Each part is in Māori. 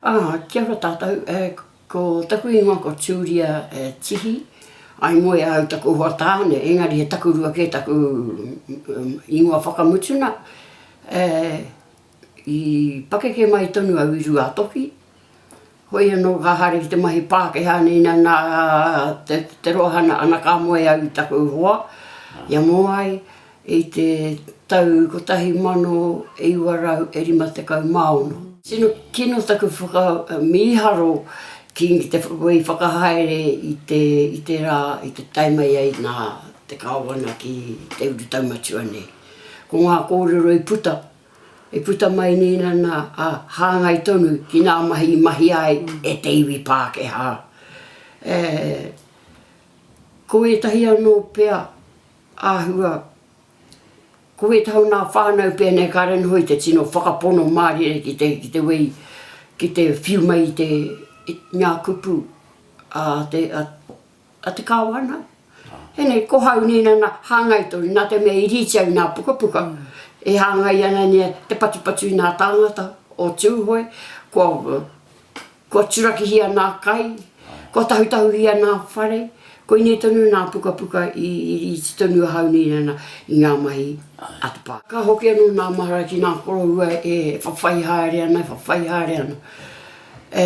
Ā, kia ora tātou, e, ko taku ingoa ko Julia Tihi, I moe au taku hoa tāne, engari he takurua kē taku ingoa whakamutuna, e, i pakeke mai tonu au i Ruātoki, hoi anō ka haere ki te mahi Pākehā nei nā, nā te roa hana, ana ka moe au i taku hoa, ia mō ai, I te tau 1956. Tino kino taku whakamīharo ki te whai whakahaere i te rā i te tae mai ai nā te Kāwana ki te urutau matua nei. Ko ngā kōrero i puta, i puta mai nei nana a hāngai tonu ki nā mahi i mahi ai e te iwi Pākehā. Ko ētahi anō pea Āhua, Ko wētahi o nā whānau pēnei kāre noho i te tino whakapono mārire ki te, ki te wei, ki te whiu mai i te, i ngā kupu a te, a, a te Kāwana. Pēnei, ko hau nei nana, hāngai tonu, nā te mea i rīti ai nā pukapuka, e hāngai ana nei te patupatu i nā tāngata o Tūhoe, kua, Kua turakihia nā kai, kua tahutahuhia nā whare, koinei tonu nā pukapuka i iti tonu ahau nei nana i ngā mahi a te pā. Ka hoki anō nā mahara ki nā koroua e whawhai haere ana, e whawhai haere ana e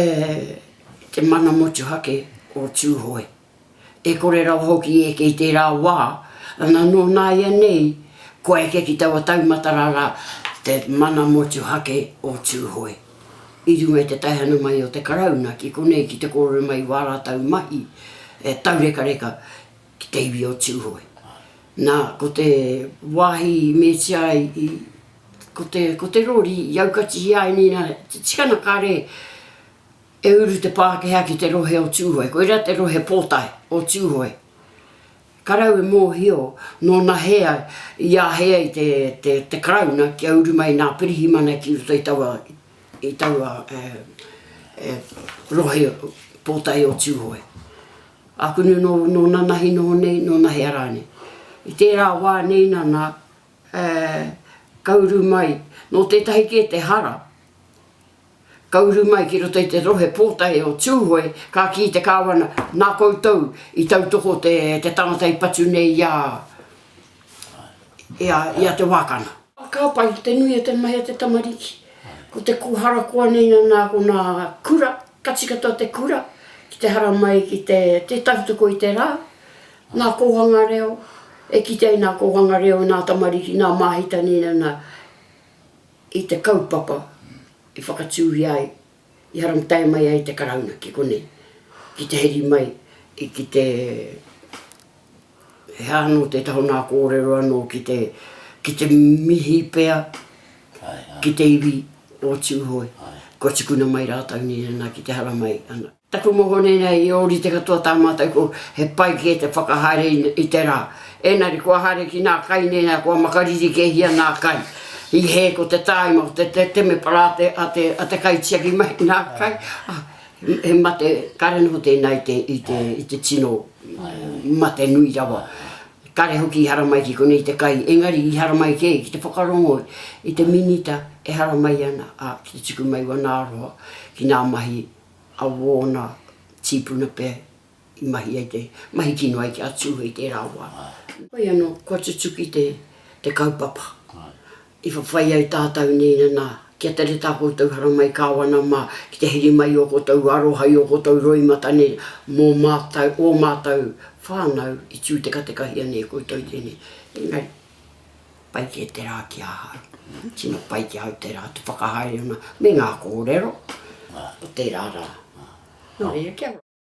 te mana motuhake o Tūhoe. e kore rawa hoki e eke i tērā wā, ana nō nāianei kua eke ki taua taumata rarā te mana motuhake o Tūhoe i runga i te taihana mai o te Karauna ki konei ki te kōrero mai i wā rātau mahi e taurekareka ki te iwi o Tūhoe. Nā, ko te wāhi i metia ai i, ko te, ko te rori i aukatihia ai nēnā te tikana kare, E uru te Pākehā ki te rohe o Tūhoe, koirā te rohe pōtae o Tūhoe. Karau e mōhio nōna hea i āhei ai te Karauna kia uru mai nā Pirihimana ki roto i taua i taua rohe pōtae o Tūhoe. Ākunu nō nōna nahi noho nei, nōna hea rānei. I tērā wā nei nana ka uru mai, nō tētahi kē te hara, Ka uru mai ki roto i te rohe pōtae o Tūhoe, ka kī te kāwana, Nā koutou i tautoko te tangata i patu nei i a, i a, i a Te Wākana. Ka pai te nui o te mahi a te tamariki. Ko te kūhara koa nei nana ko nā kura, ka tika katoa te kura ki te haramai ki te, te tautoko i te rā. Nā kōhanga reo, e kitea i nā kōhanga reo nā tamariki, nā māhita nei nana. i te kaupapa i whakatūhia ai, i haramtae mai ai te Karauna ki konei, ki te heri mai i ki te, he aha anō te taha o nā kōrero anō ki te, ki te mihi pea ki te iwi o Tūhoe, kua tukuna mai rātou nei ana ki te haramai ana. Taku mohoni nei i ōrite katoa tā mātou ko he pai kē te whakahaere i te rā. Ēnari kua haere ki nā kai nei ā kua makariri kēhia nā kai. I hē ko te tāima ko te temepara a te kaitiaki mai i nā kai, ā, he mate kare noho tēnā i te tino mate nui rawa. Kare hoki i haramai ki konei i te kai, engari i haramai kē ki te whakarongo i te Minita e haramai ana, ā, ki te tuku mai wana aroha ki nā mahi a wōna tīpuna pea i mahi ai te mahi kino ai ki a Tūhoe i tērā wā. Hoi anō, kua tutuki te kaupapa i whawhai ai tātau nei nana kia tere tā koutou haramai kāwana mā ki te heri mai i ō koutou aroha, i ō koutou roimata nei mō mātau, ō mātau whānau i tūtekatekahi ana e koutou tēnei. Engari. Pai kē te rā ki ahau. Tino pai ki ahau te rā, te whakahaere ona me ngā kōrero o tērā rā. Nō reira, kia ora.